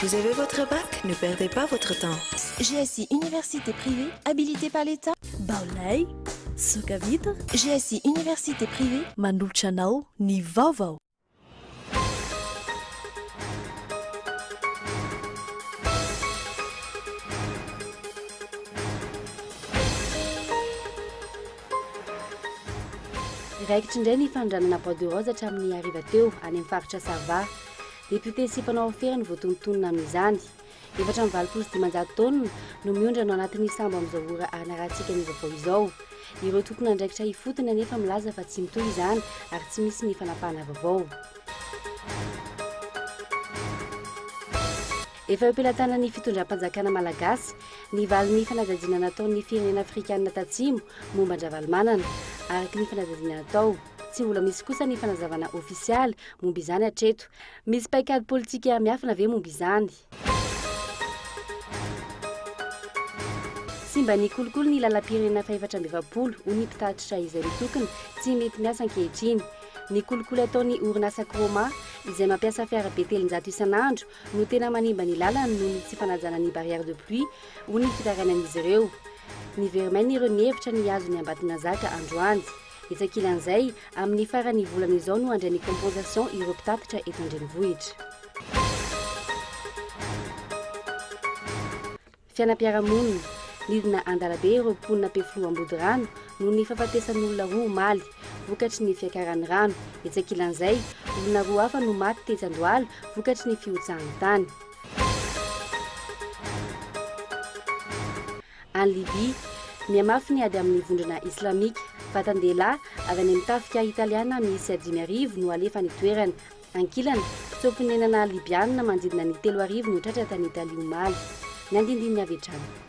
Vous avez votre bac? Ne perdez pas votre temps! GSI Université privée habilitée par l'État. Baolay, Soka Vitre, GSI Université privée. Manolotra anao ny vaovao. Raikitra indray ny fanondranana bois de rose hatramin'ny hariva teo, any amin'ny faritra Sava. Depiote sy mpanao afera no voatonontonona amin'izany. Efatra amby valopolo sy dimanjato taonina no miondrana ao anatin'io sambo amin'izao ora hanarahantsika ny vaovao izao. Ireo tompon'andraikitra ifotony anefa milaza fa tsy mitohy izany ary tsy misy ny fanapahana vaovao. Efa eo am-pelatanan'ny fitondram-panjakana malagasy ny valin'ny fanadihadiana nataon'ny firenena afrikanina tatsimo momba an-dRavalomanana, araka ny fanadihadiana natao. Tsy mbola misy kosa ny fanazavana ofisialy momba izany hatreto. Misy paikady politika miafina ve momba izany? Simba ny kolikoly ny lalam-pirenena fahefatra amby efapolo, hoy ny mpitatitra izay mitokona tsy mety miasa ankehitriny. Ny kolikoly ataon'ny orinasa Croma, izay mampiasa fiarabe telonjato isan'andro, no tena manimba ny lalany noho ny tsy fanajana ny barrière de pluie, hoy ny fitarainan'izy ireo. Nivermain'ireo ny hevitra ny hihazo ny Ambatonazaka androany. Etsy ankilan'izay, amin'ny faran'ny volana izao no handray ny compensation ireo mpitatitra eto an-drenivohitra. Fianam-piarahamonina, Nidina an-dalabe ireo mponina Ampefiloha Ambodirano noho ny fahafatesan'olona roa omaly, vokatry ny fiakaran'ny rano. Etsy ankilan'izay, olona roa hafa no maty tetsy Andohalo vokatry ny fihotsahan'ny tany. Any Libya, mihamafy ny ady amin'ny vondrona Islamika. Vatan-dehilahy avy any amin'ny tafika Italiana miisa dimy arivo no alefa any an-toerana. Ankilany, mpitsoa-ponenana Libyana manodidina ny telo arivo no tratra tany Italia omaly. Ny andindininy avy hatrany.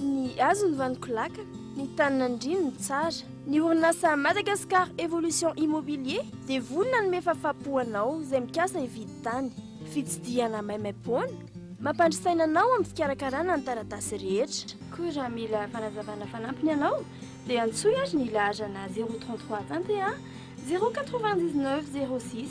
Ny hazo ny vaniko laka, ny tany nandriany ny tsara. Ny orinasa Madagascar Evolution Immobilier dia vory nanome fafapo ho anao izay mikasa hividy tany. Fitsidihana maimaimpoana mampandry saina anao amin'ny fikarakarana ny taratasy rehetra. Koa raha mila fanazavana fanampiny ianao dia antsoy ary ny laharana zéro trente trois tantehà zéro quatre-vingt-dix-neuf zéro six.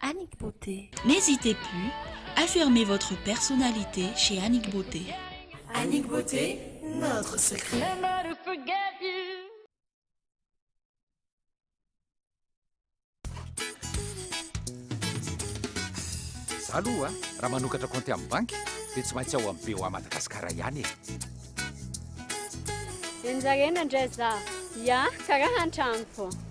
Annick Beauté. N'hésitez plus, affirmez votre personnalité chez Annick Beauté. Annick Beauté, notre secret. Za aloha a, raha manokatra compte amin'ny banky dia tsy maintsy ao amin'ny BOA Madagascar ihany e. Enjarena ndray za, ya karaha antrano fô.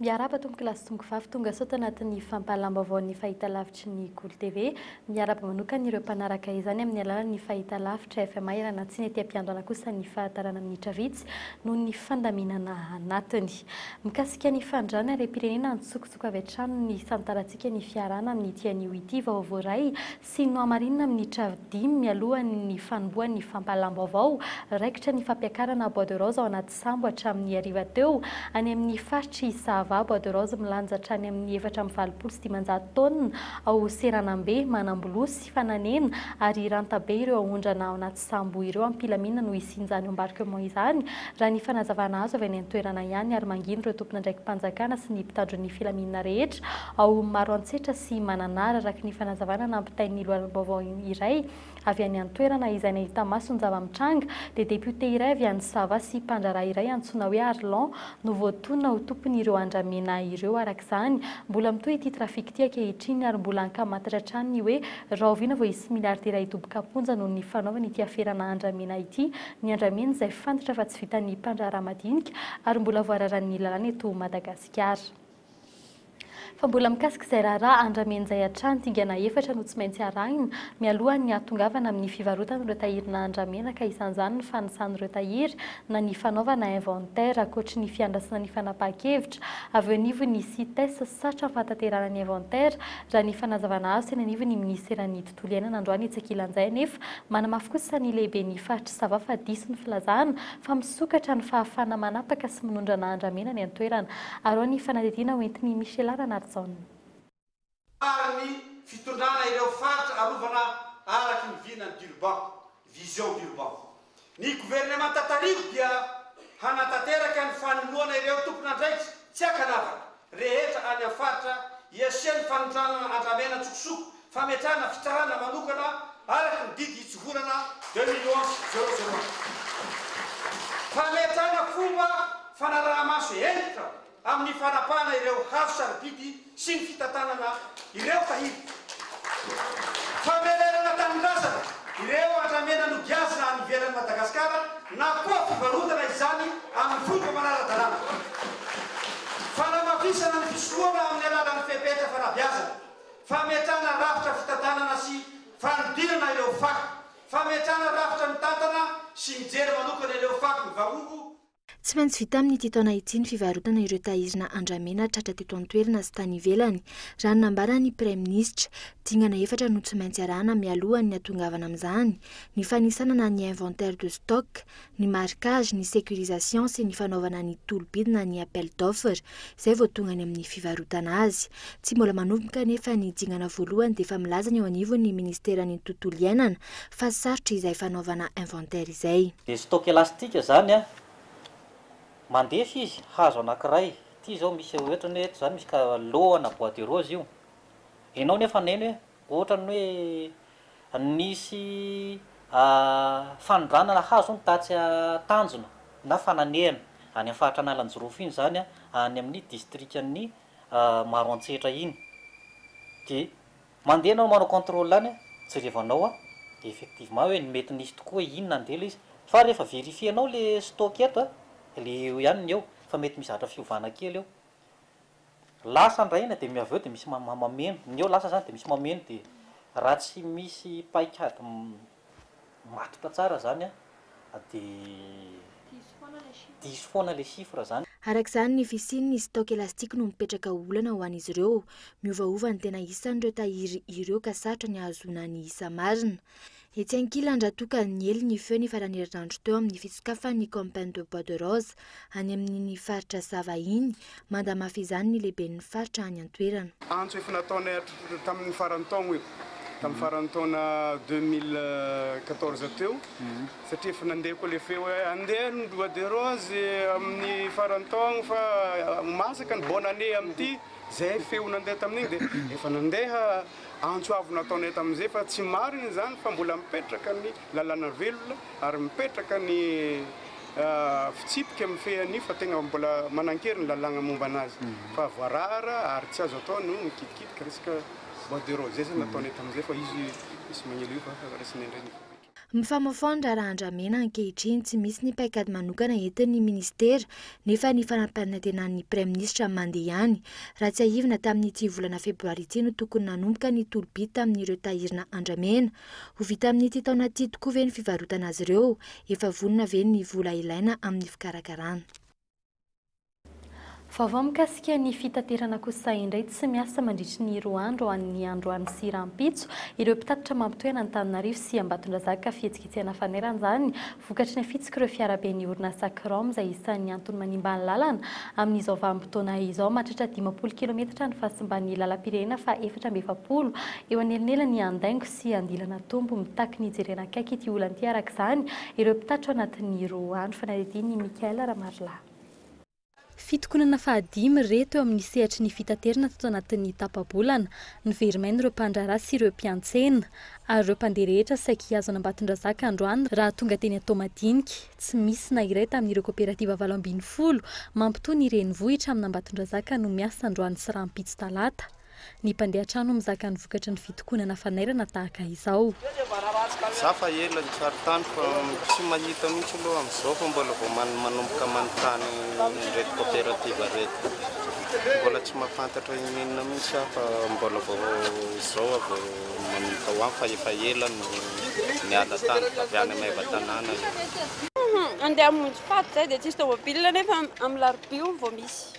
Miarahaba tompokolahy sy tongovavy tonga sao tanatin'ny fampahalam-baovaon'ny fahitalavitry ny Golo TV. Miarahaba manokana ireo mpanaraka izany amin'ny alalan'ny fahitalavitra FMA Iranatsina ety am-piandohana kosa ny fahatarana minitra vitsy noho ny fandaminana anatiny. Mikasika ny fandràna harem-pirenena antsokosoko avy hatrany ny tantarantsika ny fiarahana amin'ity anio ity vao voaray sy nohamarinina amin'ny travo dimy mialohan'ny fanombohan'ny fampahalam-baovao raikitra ny fampiakarana bois de rose ao anaty sambo hatramin'ny hariva teo any amin'ny faritr'i Sahava, bois de rose milanja hatrany amin'ny efatra amby valopolo sy dimanjato taonina ao Seranambe, manambolosy, fananena ary ranta be ireo aondrana ao anaty sambo ireo ampilamina no hisian'izany embarquement izany, raha ny fanazavana azo avy any an-toerana ihany ary manginy ireo tompon'andraiki-panjakana sy ny mpitandro ny filaminana rehetra ao Maroantsetra sy Mananara araka ny fanazavana nampitain'ny loharanom-baovao iray avy any an-toerana izay nahita maso ny zava-mitranga dia député iray avy any Sava sy mpandraharaha iray antsoina hoe Arlan no voatonona ho tompon'ireo andramena ireo araka izany mbola mitohy ity trafic ity ankehitriny ary mbola ankamantatra hatrany ny hoe Rahoviana vao hisy miliaridera hidoboka am-ponja noho ny fanaovany ity aferana andramena ity? Ny andramena izay fantatra fa tsy vitan'ny mpandraharaha madinika ary mbola voararan'ny lalàna eto Madagasikara. Fa mbola mikasika izay raharaha andramena izay hatrany, dingana efatra no tsy maintsy arahina mialohan'ny hahatongavana amin'ny fivarotana ireo tahirina andramena ka isan'izany ny fanisan'ireo tahiry na ny fanaovana inventaire ankoatry ny fiandrasana ny fanapahan-kevitra avy eo anivon'ny Cites satram-pahatanterahana ny inventaire Raha ny fanazavana azo teny anivon'ny minisiteran'ny tontolo iainana androany etsy ankilan'izay anefa, manamafy kosa ny lehiben'ny faritr'i Sava fa diso ny filazana fa misokatra ny fahafahana manapaka sy minondrana andramena any an-toerana. Arao ny fanadihadiana hoentin'i Michela Ranarijaona. Faran'ny fitondrana ireo faritra arovana araky ny vinan'i Durban. Vision d'Urban. Ny governemanta tariho dia hanatanteraka ny fanoloana ireo tompon'andraikitra tsy ankanavaka rehetra any amin'ny faritra hiasin'ny fanondranana andramena an-tsokosoko fametrahana fitsarana manokana araka ny didy itsohorana deux mille onze zéro zéro un. Fametrahana fomba fanaraha-maso hentitra. amin'ny fanapahana ireo hazo sarobidy sy ny fitantanana ireo tahiry. Famerenana tanindrazana ireo andramena nogiazina any ivelan'i Madagasikara na koa fivarotana izany amin'ny fomba manara-dalàna. Fanamafisana ny fisoloana amin'ny alalan'ny fepetra fanabeazana, fametrahana rafitra fitantanana sy fanidirana ireo fako, fametrahana rafitra mitantana sy mijery manokana ireo fako mivangongo, Tsy maintsy vita amin'ity taona ity ny fivarotana ireo tahirina andramena tratra teto an-toerana sy tany ivelany, raha ny nambaran'ny Praiminisitra. Dingana efatra no tsy maintsy arahana mialohan'ny hatongavana amin'izany, ny fanisanana ny inventaire de stock, ny marquage, ny sécurisation sy ny fanaovana ny tolobidina ny appel d'offre. izay vao tonga any amin'ny fivarotana azy. Tsy mbola manomboka anefa ny dingana voalohany dia efa milaza ny eo anivon'ny Ministeran'ny Tontolo Iainana fa sarotra izay fanaovana inventaire izay. Dia stock elastique izany an, mandefa izy, hazo anankiray, ity izao misy ohatrany hoe eto izany misy ka lohana bois de rose io, ianao nefa haneno hoe Ohatran'ny hoe nisy fanondranana nahazo ny tatsy tanjona na fananehana any amin'ny faritra Analanjirofo iny izany, any amin'ny distrikan'ny Maroantsetra iny. Dia mandeha ianao manao contrôle any, jerevanao effectivement hoe ny mety nisy tokoa hoe inona andeha ilay izy. Fa rehefa verifier-nao ilay stock eto, dia eo ihany ny eo, fa mety misy zatra fiovana kely eo. Lasa ndray iny dia avy eo dia misy mameno, ny eo lasa izany dia misy mameno dia raha tsy misy paikady matotra tsara izany dia diso foana ilay chiffre izany. Araka izany, ny fisian' ny stock elastique no mipetraka ho olana ho an' izy ireo. Miovaova ny tena isan' ireo tahiry ireo ka sarotra ny hahazoana ny isa marina. Etsy ankilany raha toa ka niely ny feo ny faran'ny herinandro teo amin'ny fitsokafan'ny Campagne de Bois de Rose any amin'iny faritra Sava iny, manda mafy izany ny lehiben'ny faritra any an-toerana. Antso efa nataonay hatr tamin'ny faran'ny taogno io, tamin'ny faran'ny taona deux mille quatorze teo, satria efa nandeha koa le feo hoe andeha ny Bois de Rose amin'ny faran'ny taogno fa ho masaka ny bonne année amin'ity, zay feo nandeha tamin'iny dia efa nandeha. Antso avo nataonay tamin'izay fa tsy marina izany fa mbola mipetraka ny lalàna velona ary mipetraka ny fitsipika mifehy an'io fa tegna mbola manankery ny lalàgna momba anazy fa voarara ary tsy azo atao no mikitikitika resaka bois de rose. Zay zany nataonay tamin'izay fa izy sy Magnelio fa raisinay indray ny. Mifamofoha ny raharaha andramena ankehitriny, tsy misy ny paikady manokana entin'ny minisitera nefa ny fanaparitena-ny praiminisitra mande ihany. Raha tsiahivina tamin'ity volana febroary ity no tokony nanomboka ny tolo-bidy tamin'ireo tahirina andramena. Ho vita amin'ity taona ity tokoa ve ny fivarotana azy ireo? Efa vonona ve ny vola ilaina amin'ny fikarakarana? Vaovao mikasika ny fitaterana kosa indray tsy miasa mandritry ny roa andro ho an'ny androany sy rahampitso ireo mpitatitra mampitohy an'Antananarivo sy Ambatondrazaka fihetsiketsehana faneran'izany vokatry ny afitsik'ireo fiaraben'ny orinasa Crom izay isan'ny antony manimba ny lalana amin'izao vanim-potoana izao mahatratra dimampolo kilometatra ny fahasimban'ny lalam-pirenena faha efatra amby efapolo eo anelanelan'ny Andaingo Tsy andilana Tompo, mitaky ny hijerena akaiky ity olana ity araka izany ireo mpitatitra ao anatin'ny roa andro. Fanadihadian'i Michaël Ramarilahy. Fitokonana fahadimy ireto eo amin'ny sehatry ny fitaterana tato anatin'ny tapa-bolana. Noverimaina ireo mpandraharaha sy ireo mpiantsena. Ary ireo mpandeha rehetra saiky hihazo an'Ambatondrazaka androany raha tonga teny Toamadinika. Tsy misy na iray tamin'ireo koperativa valo ambin'ny folo mampitohy ny renivohitra amin'Ambatondrazaka no miasa androany sy rahampitso talata. Ny mpandeha trano mizaka ny vokatry ny fitokonana fanairana tahaka izao. Za fa ela nitsary tany fa tsy mahita mihitsy aloha amin'izao fa mbola vao manomboka manontany ireto coopérative ireto. Mbola tsy mahafantatra inon'inona mihitsy aho fa mbola vao izao aho vao manomboka ho any fa efa ela no niala tany, avy any Maevatanàna aho. Handeha hamonjy faty izay dia tsisy tômôbila nefa amin'ny larobia hono vao misy.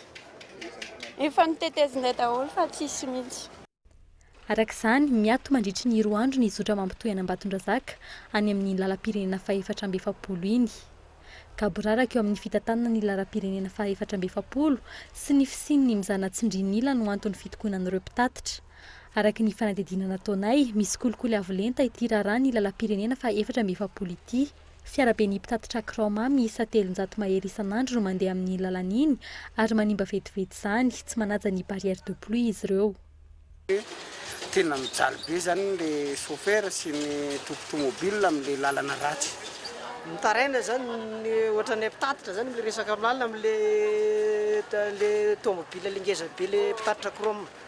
Efa notetezinay daholo fa tsisy mihitsy. Araka izany, miato mandritry ny roa andro ny zotra mampitohy an'Ambatondrazaka any amin'iny lalam-pirenena fahefatra amby efapolo iny. Gaboraraka eo amin'ny fitantanana ny laram-pirenena fahefatra amby efapolo sy ny fisian'ny mizana tsindrin'ila no anton'ny fitokonan'ireo mpitatitra. Araka ny fanadihadiana nataonay, misy kolikoly avo lenta ity raharaha ny lalam-pirenena fahefatra amby efapolo ity. Fiaraben'ny mpitatitra kraoma miisa telonjato mahery isan'andro no mandeha amin'iny lalana iny ary manimba vetivety izany, tsy manaja ny barrière de pluie izy ireo. Tena mijaly be izany ilay chauffeur sy ny tompon tomobile amin'ilay lalana ratsy. Mitaraina izany ny ohatran'ilay mpitatitra izany amin'ilay resaka lalana amin'ilay ilay tomobile ilay ngeza be ilay mpitatitra kraoma.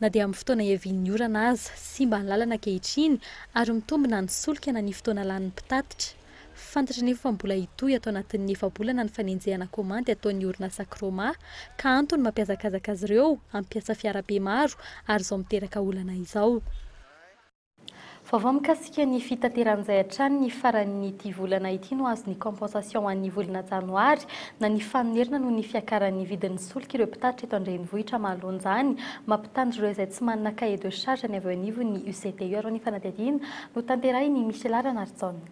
Na dia amin'ny fotoana iavian'ny orana aza, simba ny lalana ankehitriny ary mitombo na ny solika na ny fotoana lanin'ny mpitatitra. Fantatra anefa fa mbola hitohy ato anatin'ny efa-bolana ny fanenjehana kaomandy ataon'ny orinasa Croma, ka antony mampihazakazaka azy ireo hampiasa fiarabe maro ary izao miteraka olana izao. Vaovao mikasika ny fitateran'izay hatrany ny faran'ity volana ity no azo ny compensation ho an'ny volana janoary na ny fanonerana noho ny fiakaran'ny vidin'ny solika ireo mpitatitra eto an-drenivohitra mahaloanjany mampitandro ireo izay tsy manana cahier de charge ny avy eo anivon'ny UCTU arao ny fanadihadiana notanterahin'i Michela Ranarijaona.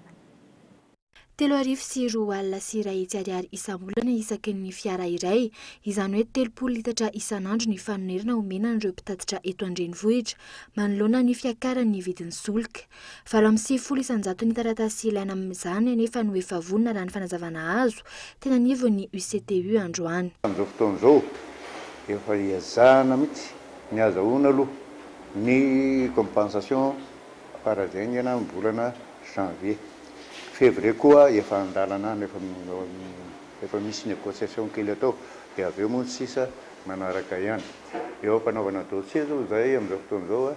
Telo arivo sy roa alina sy iray hetsy ariary isam-bolana isaky ny fiara iray, izany hoe telopolo litatra isan'andro ny fanonerana omena an'ireo mpitatitra eto an-drenivohitra, manoloana ny fiakaran'ny vidin'ny solika. Valo amby sivifolo isan-jaton'ny taratasy ilaina amin'izany anefa no efa vonona raha ny fanazavana azo teny anivon'ny UCTU androany. Amin'izao fotoana izao, efa iezahana mihitsy ny azahoana aloha ny compensation Fara izay ny ena ny volana janvier. Fevrier koa efa an-dalana any, efa efa misy négociation kely atao dia avy eo moa ny sisa manaraka ihany. Eo am-panaovana dossier zao izahay amin'izao fotoana izao a,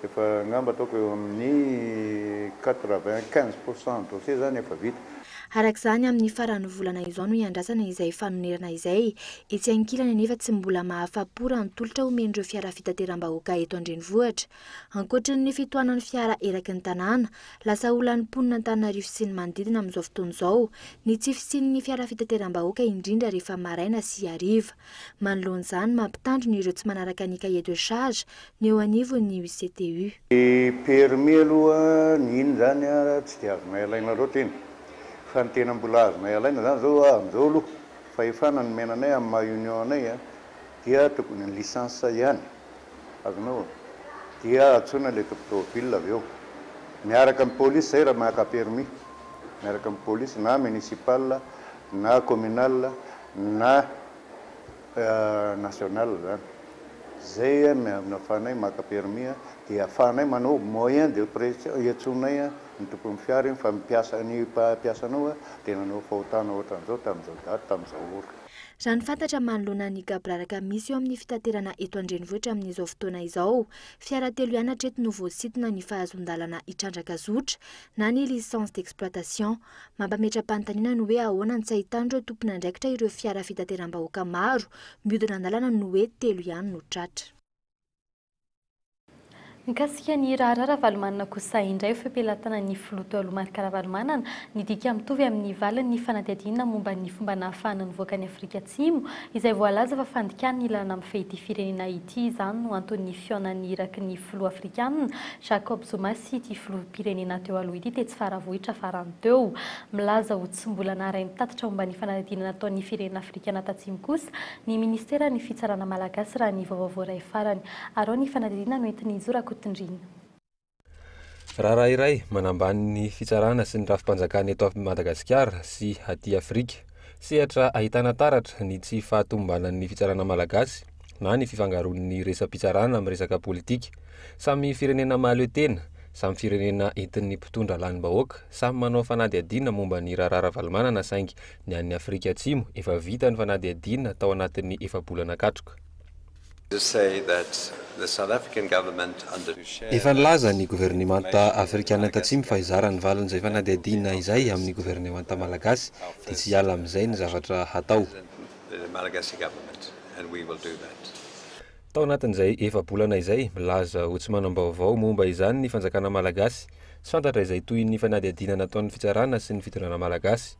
efa angamba ataoko eo amin'ny quatre vingt quinze pour cent dossier izany efa vita. Araka izany, amin'ny faran'ny volana izao no hiandrasana izay fanonerana izay. Etsy ankilany anefa tsy mbola mahafa-po raha ny tolotra omen'ireo fiara fitateram-bahoaka eto an-drenivohitra. Ankoatry ny fitohanan'ny fiara eraky ny tanàna, lasa olan'ny mponina Antananarivo sy ny manodidina amin'izao fotoana izao ny tsy fisian'ny fiara fitateram-bahoaka indrindra rehefa maraina sy hariva. Manoloana izany, mampitandrina ireo tsy manaraka ny cahier de charge ny eo anivon'ny UCTU. Ny permis aloha ny iny zany tsy dia azonay alaina loatra iny fa ny tena mbola azonay alaina zany zao amin'izao aloha fahefana nomena anay amin'ny maha union anay Dia tokony ny licence ihany azonao dia antsoina ilay tompon tômôbila avy eo miaraka amin'ny polisy zay raha maka permis miaraka amin'ny polisy na municipal na communal na national zany zay afahanay maka permis dia afahanay manao moyen de pression iantsonay ny tompon'ny fiara iny fa ny mpiasa ny mpampiasa anao dia nanao fahotana ohatran'izao tamin'izao daty tamin'izao ora. Raha ny fantatra manoloana ny gaboraraka misy eo amin'ny fitaterana eto an-drenivohitra amin'izao fotoana izao, fiara telo ihany hatreto no voasintona ny fahazoan-dalana hitrandraka zotra na ny licence d'exploitation. Mampametra-panontaniana ny hoe ahoana no tsy ahitan'ireo tompon'andraikitra ireo fiara fitateram-bahoaka maro mihodina an-dalana no hoe telo ihany no tratra. Mikasika ny raharaha Ravalomanana kosa indray, feo pelatanan'ny filoha teo aloha Marc Ravalomanana, nidika mitovy amin'ny valiny ny fanadihadiana momba ny fomba nahafahana nivoaka an'i Afrika Atsimo, izay voalaza fa fandikàna ny lalana mifehy ity firenena ity izany no anton'ny fihaonan'ny iraky ny filoha afrikanina Jacob Zuma sy ity filoham-pirenena teo aloha ity tetsy Faravohitra farany teo. Milaza ho Tsy mbola naharay ny tatitra momba ny fanadihadiana nataon'ny firenena afrikana tatsimo kosa ny minisiteran'ny fitsarana malagasy raha ny vaovao voaray farany. Arao ny fanadihadiana noentin'i Izo Rakotondriana. Raharaha iray manambany ny fitsarana sy ny rafi-panjakana eto Madagasikara sy aty Afrika. Sehatra ahitana taratra ny tsy fahatomombanan'ny fitsarana malagasy na ny fifangaroan'ny resa-pitsarana amin'ny resaka politika. Samy firenena mahaleo tena, samy firenena entin'ny mpitondra lanim-bahoaka, samy manao fanadihadiana momba ny raharaha Ravalomanana saingy ny an'ny Afrika Atsimo efa vita ny fanadihadiana tao anatin'ny efa-bolana katroka. Efa nilaza ny governemanta afrikana tatsimo fa hizara ny valin'izay fanadihadiana izay amin'ny governemanta malagasy dia tsy hiala amin'izay ny zavatra hatao. Tao anatin'izay efa-bolana izay, milaza ho tsy manam-baovao momba izany ny fanjakana malagasy. Tsy fantatra izay tohin'ny fanadihadiana nataon'ny fitsarana sy ny fitondrana malagasy.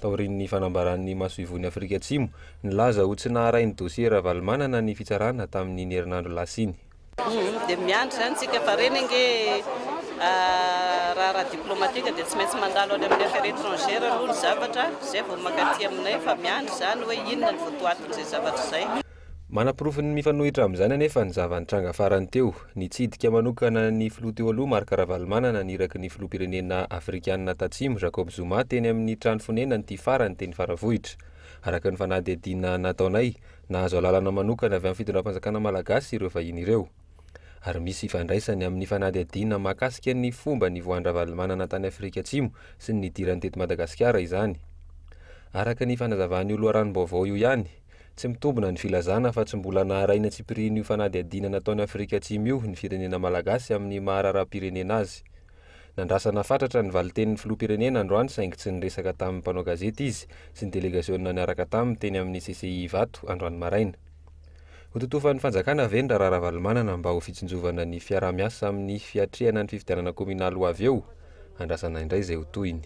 Taorian'ny fanambaran'ny masoivohon'i Afrika Atsimo, nilaza ho tsy naharay ny dosie Ravalomanana ny fitsarana tamin'iny herinandro lasa iny. Humm dia miandry izany tsika fa reny ange raharaha diplomatique dia tsy maintsy mandalo any amin'ny affaire etrangère aloha ny zavatra zay vao maka aty aminay fa miandry izany hoe inona ny votoatin'izay zavatra izay. Manaporofon'ny mifanohitra amin'izany anefa ny zava-nitranga farany teo. Nitsidika manokana ny filoha teo aloha Marc Ravalomanana ny iraky ny filoham-pirenena afrikanina tatsimo Jacob Zuma teny amin'ny trano fonenany ity farany teny Faravohitra. Araka ny fanadihadiana nataonay, nahazo alalana manokana avy amin'ny fitondram-panjakana malagasy ireo vahiny ireo. Ary misy ifandraisany amin'ny fanadihadiana mahakasika ny fomba nivoahan-dRavalomanana tany Afrika Atsimo sy ny nidirany teto Madagasikara izany. Araka ny fanazavan'io loharanom-baovao io ihany, Tsy mitombina ny filazana fa tsy mbola naharay ny antsipirian'io fanadihadiana nataon'i Afrika Atsimo io ny firenena malagasy amin'ny maha raharaham-pirenena azy. Nandrasana fatratra ny valin-tenin'ny filoham-pirenena androany saingy tsy niresaka tamin'ny mpanao gazety izy sy ny delegasionina niaraka taminy teny amin'ny CCI Ivato androany maraina. Hototofan'ny fanjakana ve ny raharaha Ravalomanana mba ho fitsinjovana ny fiaraha-miasa amin'ny fiatrehana ny fifidianana kaominaly ho avy eo? Andrasana indray izay ho tohiny.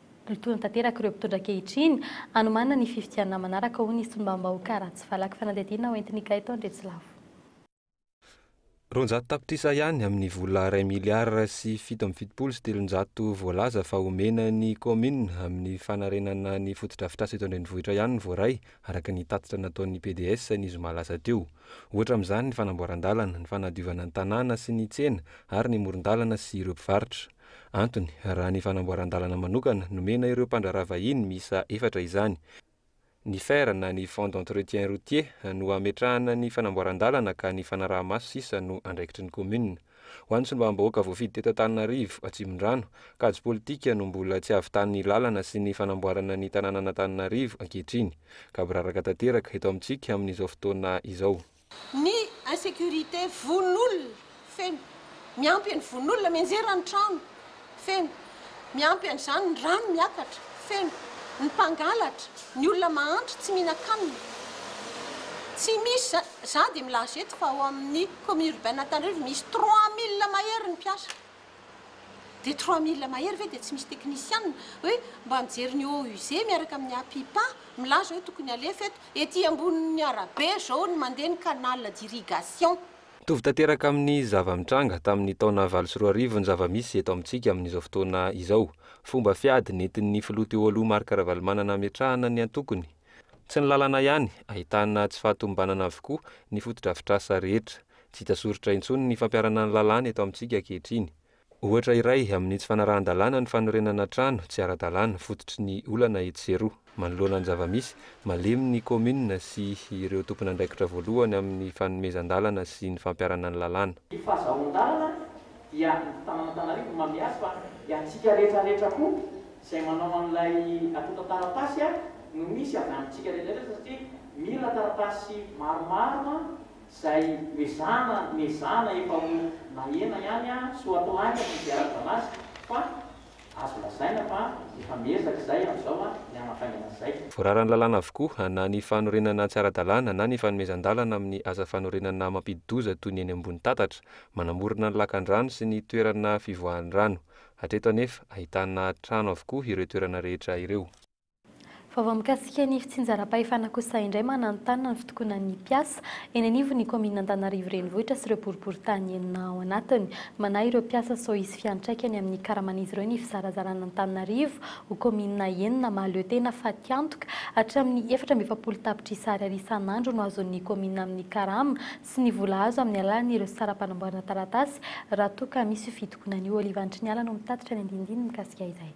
Mitohy tanteraka ireo mpitondra ankehitriny hanomanana ny fifidianana manaraka, hoy ny solombavambahoaka Ratsifalaky Fanadihadiana hoentin'i Ikay tao Andriatsilavo. Roanjato tapitrisa ihany amin'ny vola iray miliara sy fito amby fitopolo sy telonjato voalaza fa homena ny kaominina amin'ny fanarenana ny fotodrafitrasa eto an-drenivohitra ihany no voaray, araka ny tatitra nataon'ny PDS ny zoma lasa teo. Ohatra amin'izany ny fanamboaran-dalana, ny fanadiovana ny tanàna sy ny tsena ary ny moron-dalana sy ireo mpivarotra. Antony, raha ny fanamboaran-dalana manokana nomena ireo mpandraharaha vahiny miisa efatra izany. Ny fer na ny fonds d'entretien routier no hametrahana ny fanamboaran-dalana ka ny fanaraha-maso sisa no andraikitry ny commune. Ho an'ny solombavambahoaka voafidy teto Antananarivo Atsimondrano, kajy politika no mbola tsy havitan'ny lalana sy ny fanamboarana ny tananan'Antananarivo ankehitriny ka biraraka tanteraka eto amintsika amin'izao fotoana izao. Ny insécurité, vono olona, feno. Miampy ny vono olona, mianjera ny trano, feno. Miampy an'izany ny rano miakatra, feno. Ny mpangalatra, ny olona mahantra, tsy mihinan-kanina. Tsy misy za, za dia milaza eto fa ao amin'ny commune urbaine Antananarivo misy trois mille mahery ny mpiasa. Dia trois mille mahery ve dia tsy misy teknisianina hoe mba mijery ny OUZ miaraka amin'ny APIPA milaza hoe tokony alefa eto. Ety ambonin'ny arabe izao ny mandeha ny canal d'irrigation. Mitovy tanteraka amin'ny zava-mitranga tamin'ny taona valo sy roa arivo ny zava-misy eto amintsika amin'izao fotoana izao. Fomba fiady nentin'ny filoha teo aloha Marc Ravalomanana hametrahana ny antokony. Tsy ny lalana ihany, ahitana tsy fahatomombanana avokoa ny fotodrafitrasa rehetra. Tsy hita soritra intsony ny fampiharana ny lalàna eto amintsika ankehitriny. Ohatra iray amin'ny tsy fanarahan-dalàna ny fanorenana trano tsy ara-dalàna fototry ny olana etsy sy eroa. Manoloana ny zava-misy, malemy ny kaominina sy ireo tompon'andraikitra voalohany amin'ny fanomezan-dalana sy ny fampiharana ny lalàna. Ny fahazahoan-dalana dia ny tanàn'Antananarivo no manome azy fa dia antsika rehetra rehetra koa izay manao an'ilay antontan-taratasy no misy avy amintsika rehetra rehetra satria mila taratasy maromaro Zay mezana mezana efa ho nahena ihany an, soatoaina ny fiarahabanazy fa azo lazaina fa efa miezaka izay amin'izao an, ny hanafaingana izay. Voararan'ny lalàna avokoa na ny fanorenana tsy ara-dalàna na ny fanomezan-dalana amin'ny asa fanorenana mampidi-doza toy ny eny ambony tatatra, manamorona ny lakan-drano sy ny toerana fivoahan'ny rano. Hatreto anefa, ahitana trano avokoa ireo toerana rehetra ireo. Vaovao mikasika ny fitsinjaram-pahefana kosa indray mananontanona ny fitokonan'ny mpiasa eny anivon'ny kaominina Antanarivo renivohitra sy ireo boriboritany enina ao anatiny. Manahy ireo mpiasa sao hisy fiantraikany amin'ny karaman'izy ireo ny fizarazarana Antananarivo ho kaominina enina mahaleo tena fatiantoka hatramin'ny efatra amby efapolo tapitrisa ariary isan'andro no azon'ny kaominina amin'ny karama sy ny vola azo amin'ny alalan'ireo saram-panamboarana taratasy raha toa ka misy io fitokonana io. Olive Andriniala no mitatitra ny andinindininy mikasika izay.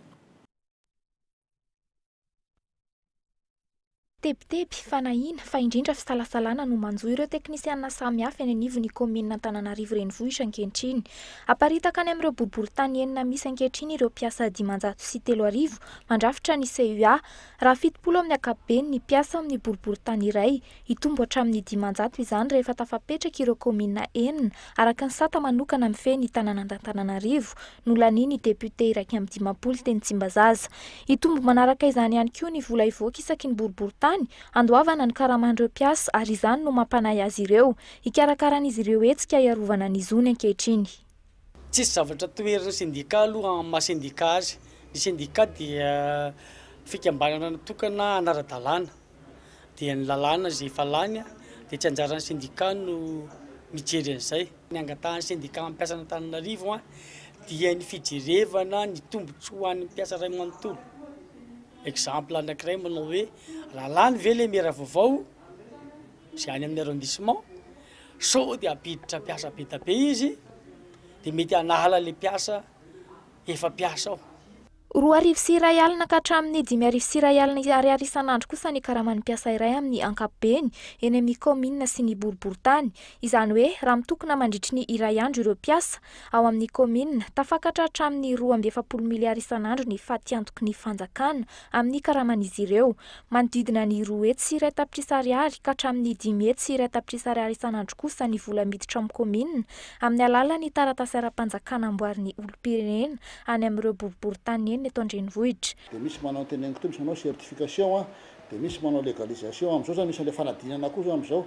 Tebiteby, fanahiana, fa indrindra fisalasalana no manjo ireo teknisianina samihafa eny anivon'ny kaominina Antananarivo Renivohitra ankehitriny. Aparitaka any amin'ireo boriboritany enina misy ankehitriny ireo mpiasa dimanjato sy telo arivo mandrafitra ny CUA. Raha fitopolo amin'ny ankapobeny ny mpiasa amin'ny boriboritany iray, hitombo hatramin'ny dimanjato izany rehefa tafapetraka ireo kaominina enina, araka ny sata manokana mifehy ny tanànan'Antananarivo. nolanian'ny depiote iraika amby dimampolo teny Tsimbazaza. Hitombo manaraka izany ihany koa ny vola hivoaka isaky ny boriborintany handoavana ny karaman'ireo mpiasa ary izany no mampanahy azy ireo hikarakara an'izy ireo hetsika hiarovana ny zony ankehitriny. Tsisy zavatra toherin'ny sendika aloha amin'ny maha sendika azy. Ny sendika dia fikambanana natokana hanara-dalàna. dia ny lalàna izay efa lany dia tsy anjaran'ny sendika no mijery an'izay. Ny angatahan'ny sendika mpiasan'Antananarivo dia ny fijerevana ny tombontsoa ho an'ny mpiasa iray manontolo. Exemple anankiray manao hoe raha lany ve ilay mera vaovao izay any amin'ny arrondissement sao dia hampiditra mpiasa be dia be izy dia mety hanala ilay mpiasa efa mpiasa ao. Roa arivo sy iray alina ka hatramin'ny dimy arivo sy iray alina Ariary isan'andro kosa ny karaman'ny mpiasa iray amin'ny ankapobeny eny amin'ny kaominina sy ny boriborintany. Izany hoe raha mitokona mandritry ny iray andro ireo mpiasa ao amin'ny kaominina, tafakatra hatramin'ny roa amby efapolo miliara isan'andro ny fatiantoky ny fanjakana amin'ny karaman'izy ireo, manodidina ny roa hetsy sy iray tapitrisa Ariary ka hatramin'ny dimy hetsy sy iray tapitrisa Ariary isan'andro kosa ny vola miditra amin'ny kaominina amin'ny alalan'ny taratasy ara-panjakana amboarin'ny olom-pirenena any amin'ireo boriboritany nenina eto an-drenivohitra. Dia misy manao ny teneniko teo, misy manao certification an, dia misy manao legalisation, amin'izao izany misy an'ilay fanadinana koa izao amin'izao,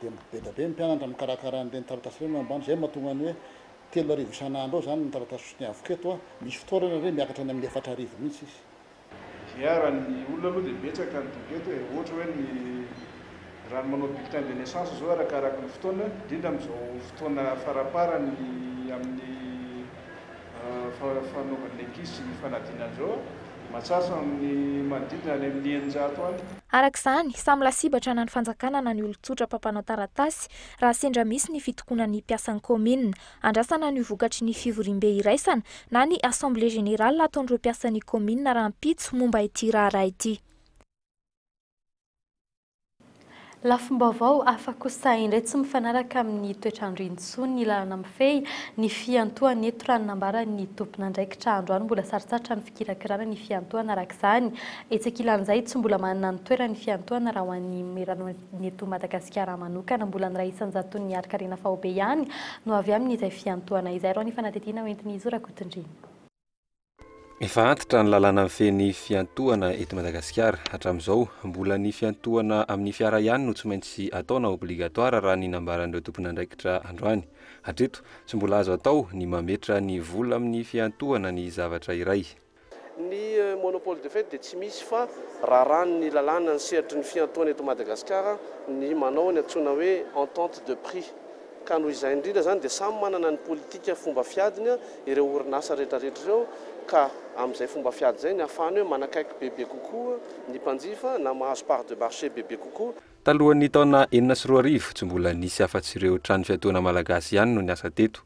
dia beda be ny mpianatra mikarakara an'ireny taratasy ireny ambany, izay no mahatonga ny hoe telo arivo isan'andro eo izany ny taratasy soutien avoka eto an, misy fotoana ary re miakatra any amin'ny efatra arivo mihitsy izy. Dia raha ny olona aloha dia betsaka ny doute eto e, ohatra hoe ny raha ny manao bulletin de naissance izao arakaraky ny fotoana, indrindra amin'izao fotoana faramparany amin'ny fanaovana ny ankizy sy ny fanadinana an'izao, mahatsatso amin'ny manodidina any amin'ny eninjato any. Araka izany, samy lasibatra na ny fanjakana na ny olon-tsotra mpampanao taratasy raha sendra misy ny fitokonan'ny mpiasan'ny kaominina. Andrasana ny ho vokatry ny fivoriambe iraisana na ny assemblée générale ataon'ireo mpiasan'ny kaominina rahampitso momba ity raharaha ity. Lafim-baovao hafa kosa indray tsy mifanaraka amin'ny toetr'andro intsony ny lalana mifehy ny fiantohana eto raha ny nambaran'ny tompon'andraikitra androany mbola sarotsartra ny fikirakirana ny fiantohana araka izany etsy ankilan'izay tsy mbola manana ny toerany fiantohana raha ho an'ny Ny eto Madagasikara manokana, mbola ny iray isan-jaton'ny harin-karena faobe ihany no avy amin'izay fiantohana izay. Irao ny fanadihadiana hoentin'i Zo Rakotondriana. Efa antitra ny lalàna mifehy ny fiantohana eto Madagasikara. Hatramin'izao, mbola ny fiantohana amin'ny fiara ihany no tsy maintsy atao na obligatoire raha ny nambaran'ireo tompon'andraikitra androany. Hatreto, tsy mbola azo atao ny mametra ny vola amin'ny fiantohana ny zavatra iray. Ny monopole de fait dia tsy misy fa raràn' ny lalàna ny sehatry ny fiantohana eto Madagasikara ny manao ny antsoina hoe entente de prix ka noho izay indrindra izany dia samy manana ny politika fomba fiadiny ireo orinasa rehetrarehetra ireo ka amin' izay fomba fiady izay ny afahany hoe manakaiky bebe kokoa ny mpanjifa na mahazo part de marché bebe kokoa. Talohan' ny taona enina sy roa arivo tsy mbola nisy afa-tsy ireo trano fiatoana malagasy ihany no niasa teto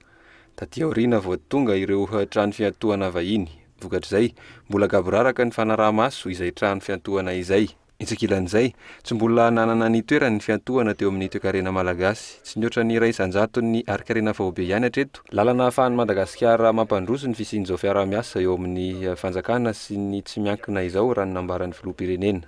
Taty aoriana vao tonga ireo trano fiantohana vahiny. Vokatr'izay, mbola gaboraraka ny fanaraha-maso izay trano fiantohana izay. Etsy ankilan'izay, tsy mbola nanana ny toerany ny fiantohana teo amin'ny toekarena malagasy. Tsy nihoatra ny iray isan-jaton'ny harinkarena faobe ihany hatreto, lalana ahafahan'i Madagasikara mampandroso ny fisian'izao fiaraha-miasa eo amin'ny fanjakana sy ny tsy miankina izao, raha ny nambaran'ny filoham-pirenena.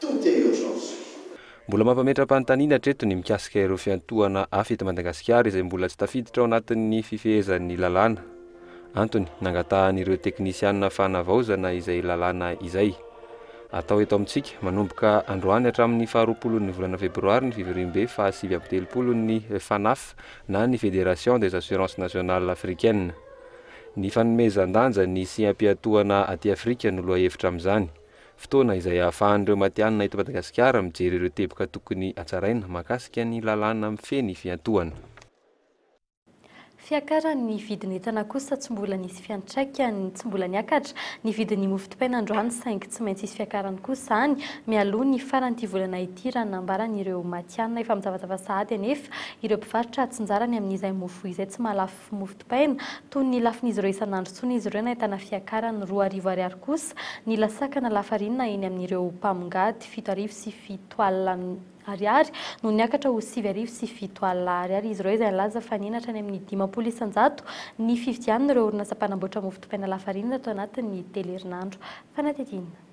Tout est urgence. Mbola mampametra-panontaniana hatreto ny mikasika ireo fiantohana hafa eto Madagasikara izay mbola tsy tafiditra ao anatin'ny fifehezan'ny lalàna. Antony nangatahan'ireo teknisiana fanavaozana izay lalàna izay. Atao eto amintsika, manomboka androany hatramin'ny faharoapolon'ny volana febroary ny fivoriambe fahasivy amby telopolon'ny FANAF na ny Fédération des Assurances Nationales Africaines. Ny fanomezan-danja ny siam-piantohana aty Afrika no lohahevitra amin'izany. Fotoana izay ahafahan'ireo matihanina eto Madagasikara mijery ireo teboka tokony hatsaraina mahakasika ny lalàna mifehy ny fiantohana. Fiakaran'ny vidin'entana kosa tsy mbola nisy fiantraikany, tsy mbola niakatra ny vidin'ny mofo dipaina androany saingy tsy maintsy hisy fiakarany kosa izany mialoha ny faran'ity volana ity raha ny nambaran'ireo matihanina. Efa mizavazava sahady anefa ireo mpivarotra atsinjarany amin'izay mofo izay tsy mahalafo sy mofo dipaina, toy ny lafin'izy ireo isan'andro intsony izy ireo nahitana fiakarany roa arivo ariary kosa ny lasakana lafarinina eny amin'ireo mpamongady, fito arivo sy fito alina ariary no niakatra ho sivy arivo sy fito alina ariary izy ireo izay nilaza fa nihenatra any amin'ny dimampolo isan-jato ny fividian'ireo orinasa mpanamboatra mofo dipaina lafarinina tao anatin'ny telo herinandro fanatintiana.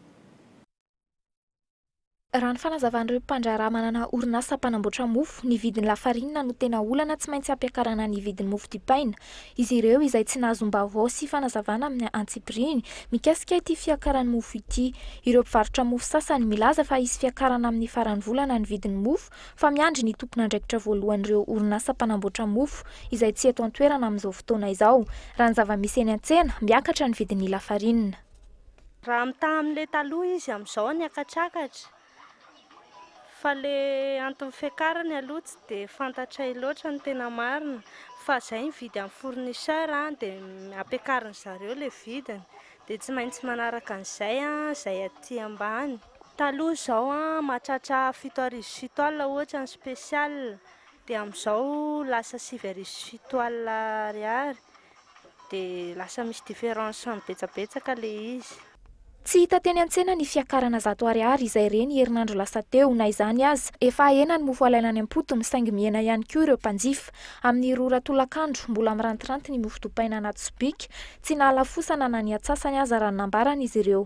Raha ny fanazavan'ireo mpandraharaha manana orinasa mpanamboatra mofo, ny vidin'ny lafarinina no tena olana tsy maintsy hampiakarana ny vidin'ny mofo dipaina. Izy ireo izay tsy nahazom-baovao sy fanazavana amin'ny antsipiriany mikasika ity fiakaran'ny mofo ity. Ireo mpivarotra mofo sasany milaza fa hisy fiakarana amin'ny faran'ny volana ny vidin'ny mofo fa miandry ny tompon'andraikitra voalohan'ireo orinasa mpanamboatra mofo izay tsy eto an-toerana amin'izao fotoana izao. Raha ny zava-misy eny an-tsena, miakatra ny vidin'ny lafarinina. Raha mitaha amin'ilay taloha izy amin'izao ny hakatsakatra, fa ilay anton'ny fiakarany aloha tsy dia fantatray loatra ny tena marina, fa izay mividy amin'ny fournisseur dia ampiakarin'ny zareo ilay vidiny, dia tsy maintsy manaraka an'izay izay aty ambany. Taloha izao mahatratra fito arivo sy fito alina ohatra ny spécial, dia amin'izao lasa sivy arivo sy fito alina ariary. Dia lasa misy différence betsabetsaka le izy. Tsy hita teny an-tsena ny fiakarana zato ariary izay re ny herinandro lasa teo, na izany aza, efa hahena ny mofo alaina any am-potony saingy mihena ihany koa ireo mpanjifa. Amin'ny roa ora tolakandro, mbola mirantiranty ny mofo dopaina anaty sobika, tsy nahalafosana na ny atsasany aza raha ny nambaran'izy ireo.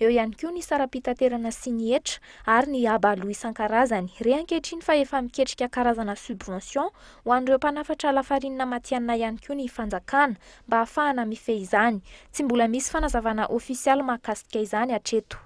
Eo ihany koa ny saram-pitaterana sy ny hetra ary ny haba aloa isan-karazany. Re ankehitriny fa efa miketrika karazana subvention ho an'ireo mpanafatra lafarinina matihanina ihany koa ny fanjakana mba hahafahana mifehy izany. Tsy mbola misy fanazavana ofisialy mahakasika izany hatreto.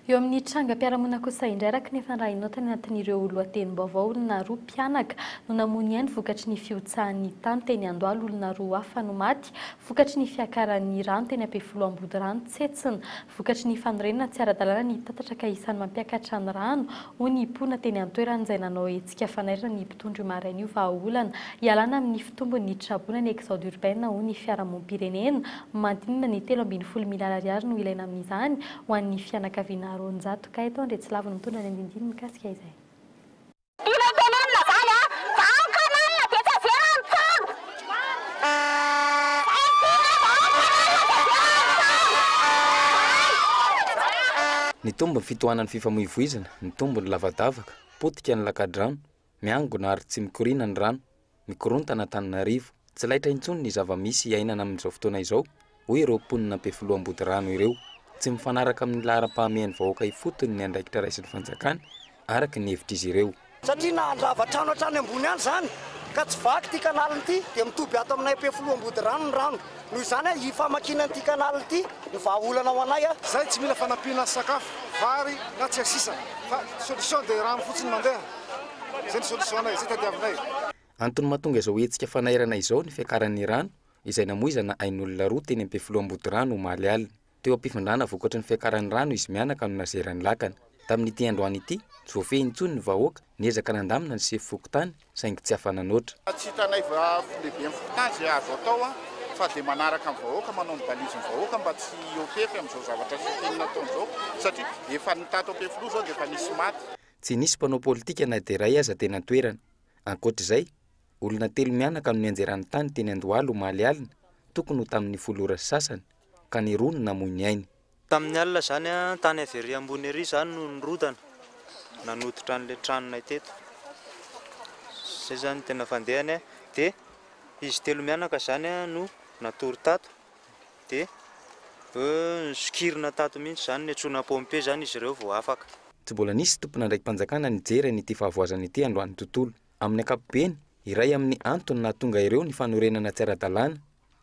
Eo amin'ny trangam-piarahamonina kosa indray araka ny efa nirahinaotany anatin'ireo lohatenim-baovao olona roa mpianaka no namoy ny ainy vokatry ny fihotsahan'ny tany teny Andohalo olona roa hafa no maty vokatry ny fiakaran'ny rano teny Ampefiloha Ambodirano, Tsetsina, vokatry ny fanorenana tsy ara-dalàna ny tatatra ka isan'ny mampiakatra ny rano, hoy ny mponina teny an-toerana izay nanao hetsika fanairana ny mpitondra io maraina io vahaolana hialana amin'ny fitombon'ny traboina ny exode urbain hoy ny fiarahamonim-pirenena mandinina ny telo ambin'ny folo miliara ariary no ilaina amin'izany ho an'ny fianakaviana roanjato ka eto Andriatsilavy no mitondra ny andindiny mikasika izay. Ilay tenenina zany a! Za ao canal dia tsy azera antsano! Edina za ao canal dia zera antsano! Nitombo ny fitohanan'ny fifamoivoizana, nitombo ny lavadavaka, potika ny lakadrano, miangona ary tsy mikoriana ny rano. Mikorontana Antananarivo, tsy laitra intsony ny zava-misy iainana amin'izao fotoana izao, hoy ireo mponina Ampefiloha Ambodirano ireo. Tsy mifanaraka amin'ny laharam-pahamehan'ny vahoaka ifotony ny andraikitra raisin'ny fanjakana, araka ny hevitr'izy ireo. Satria na handrava trano hatrany ambony any izany ka tsy vaky ity kanaliny ity dia mitoby ato aminay Ampefiloha Ambodirano ny rano. Noho izany aho hifamakiana an'ity canal ity ny vahaolana ho anay aho. Zay tsy mila fanampiana sakafo, vary na tsia sisa fa solution dia rano fotsiny mandeha. Zay ny solution anay, zay tadiavinay. Antony mahatonga izao hetsika fanairana izao ny fiakaran'ny rano izay namoizana ain'olona roa teny Ampefiloha Ambodirano omaly alina. Teo am-pifandrana vokatry ny fiakaran'ny rano izy mianaka no nazeran'ny lakana. Tamin'ity androany ity, tsy voafehy intsony ny vahoaka, niezaka nandamina ny sefo fokontany saingy tsy afa-nanoatra. Tsy hitanay lehiben'ny fokontany izay azo atao fa dia manaraka ny vahoaka, manao ny balizin'ny vahoaka mba tsy hiopefy amin'izao zavatra siteny nataony izao satria efa ny tato Ampefiloha izao dia efa nisy maty. Tsy nisy mpanao politika na dia iray aza teny an-toerana. Ankoatra izay, olona telo mianaka no nianjerany tany teny Andohalo omaly alina, tokony ho tamin'ny folo ora sy sasany. ka ny roa no namoy ny ainy. Tamin'ny alina izany, tany avy ery ambony ery izaho no nirodana nanototra an'ilay tranonay teto. Izay izany no tena fandehany. Dia izy telo mianaka izany no natory tato. Dia nisokirina tato mihitsy izany, niantsoana pompier izany izy ireo vao afaka. Tsy mbola nisy tompon'andraiki-panjakana nijery an'ity fahavoazana ity androany tontolo. Amin'ny ankapobeny, iray amin'ny antony nahatonga ireo ny fanorenana tsy ara-dalàna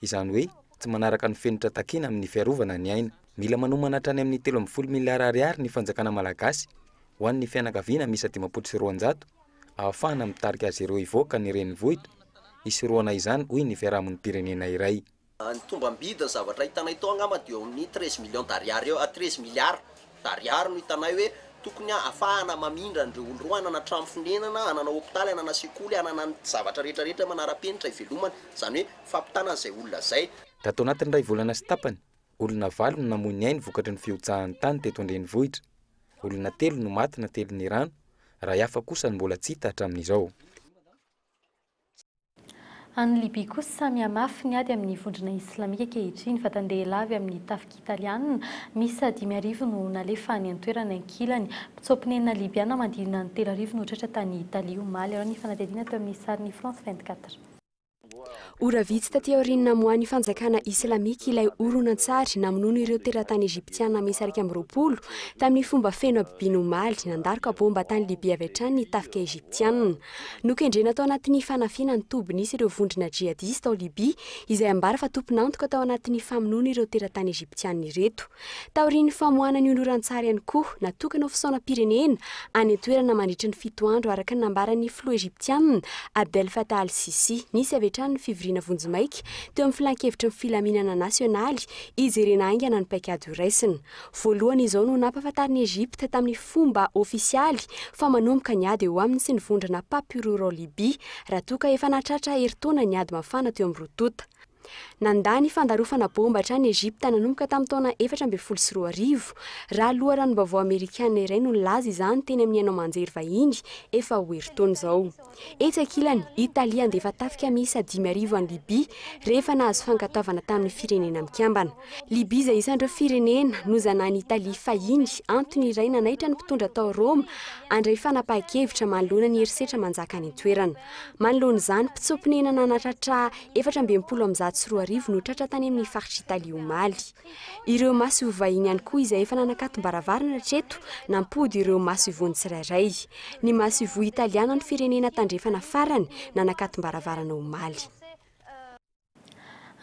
Izany hoe, tsy manaraka ny fenitra takiana amin'ny fiarovana ny aina. Mila manomana hatrany amin'ny telo ambin'ny folo miliara ariary ny fanjakana malagasy ho an'ny fianakaviana miisa dimampolo sy roanjato ahafahana mitarika azy ireo hivoaka ny renivohitra hisorohana izany, hoy ny fiarahamonim-pirenena iray. Ny tombam-bidin'ny zavatra hitanay tao angamba dia eo amin'ny treize millions d'ariary eo, treize miliara. Ariary no hitanay hoe tokony hahafahana mamindra an'ireo olona ireo hanana trano fonenana, hanana hopitaly, hanana sekoly, hanana ny zavatra rehetra rehetra manara-penitra hivelomany, izany hoe fampitana an'izay olona izay. Tato anatin'ny iray volana sy tapany, olona valo no namoy ny ainy vokatry ny fihotsahan'ny tany teto an-drenivohitra. Olona telo no maty natelin'ny rano, iray hafa kosa no mbola tsy hita hatramin'izao. Any Libya kosa samy mihamafy ny ady amin'ny vondrona islamika ankehitriny. Vatan-dehilahy avy amin'ny tafika italiana miisa dimy arivo no nalefa any an-toerana ankilany. Mpitsoa-ponenina Libyana manodidina ny telo arivo no tratra tany Italie, omaly. Araho ny fanadihadiana teo amin'ny sarin'ny France vingt quatre. Ora vitsy taty aorian'ny namoahan'ny fanjakana islamika ilay horonantsary namonoana ireo teratany Egyptiana miisa iraika amby roapolo, tamin'ny fomba feno habibiana omaly, nandaroka baomba tany Libya avy hatrany ny tafika Egyptiana. Nokendrena tao anatin'ny fanafihana ny toby nisy ireo vondrona jihadista ao Libya, izay ambara fa tompon'antoka tao anatin'ny famonoana ireo teratany Egyptiana ireto. Taorian'ny famoahana ny honoran-tsary ihany koa, natokana ho fisaonam-pirenena any an-toerana mandritra ny fito andro araka ny nambaran'ny filoha Egyptiana Abdel Fattah al-Sissi. Nisy avy hatrany ny fivoriana vonjimaika teo amin'ny Filan-kevitry ny Filaminana Nasionaly hijerena haingana ny paikady horaisina. Voalohany izao no nampahafantarin'i Egypte tamin'ny fomba ofisialy fa manomboka ny ady eo aminy sy ny vondrona Papyrur ao Libya raha toa ka efa nahatratra herintaona ny ady mafana teo amin'ny roa tonta. Nandà ny fandarofana baomba hatrany Egypte nanomboka tamin'ny taona efatra ambin'ny folo sy roa arivo, raha loharanom-baovao amerikana iray no nilaza izany teny amin'ny haino aman-jery vahiny efa ho herintaona izao. Etsy ankilany, Italia handefa tafika miisa dimy arivo any Libya rehefa nahazo fankatoavana tamin'ny Firenena Mikambana. Libya izay isan'ireo firenena nozanahan'i Italia fahiny, antony iray nanaitra ny mpitondra tao Roma handray fanapahan-kevitra manoloana ny herisetra manjaka any an-toerana. Manoloana izany, mpitsoa-ponenana nanatratra efatra amby enimpolo amin'ny zato sy roa arivo no tratra tany amin'ny faritr'i Italia omaly. Ireo maso ho vahiny ihany koa izay efa nanakatom-baravarana hatreto nampody ireo maso ivohon'ny tsirairay. Ny maso ivoho Italiana no firenena tandrefana farany nanakatom-baravarana omaly.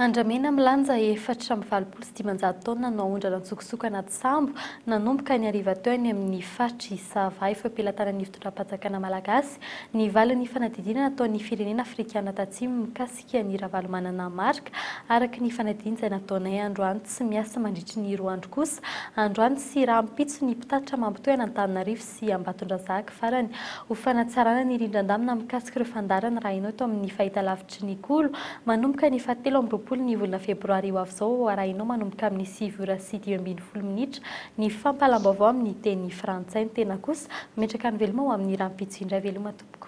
Andramena milanja efatra amby valopolo sy dimanjato taona no aondrana an-tsokosoko anaty sambo, nanomboka ny hariva teo any amin'ny faritr'i Sava, eo am-pelatanan'ny fitondram-panjakana malagasy, ny valin'ny fanadihadiana nataon'ny firenena afrikana tatsimo mikasika an'i Ravalomanana Marc, araka ny fanadihana izay nataonay androany tsy miasa mandritry ny roa andro kosa androany sy rahampitso ny mpitatitra mampitohy an'Antananarivo sy Ambatondrazaka farany ho fanatsarana ny rindran-damina mikasika ireo fandaharana raha enao eto amin'ny fahitalavitry ny Kolo manomboka ny fahatelo amby roapolo ny volana febroary ho avy izao arahinao manomboka amin'ny sivy ora sy dimy ambin'ny folo minitra ny fampahalam-baovao amin'ny teny frantsay ny tena kosa metraka ny veloma ho amin'ny rahampitso indray veloma tompoko.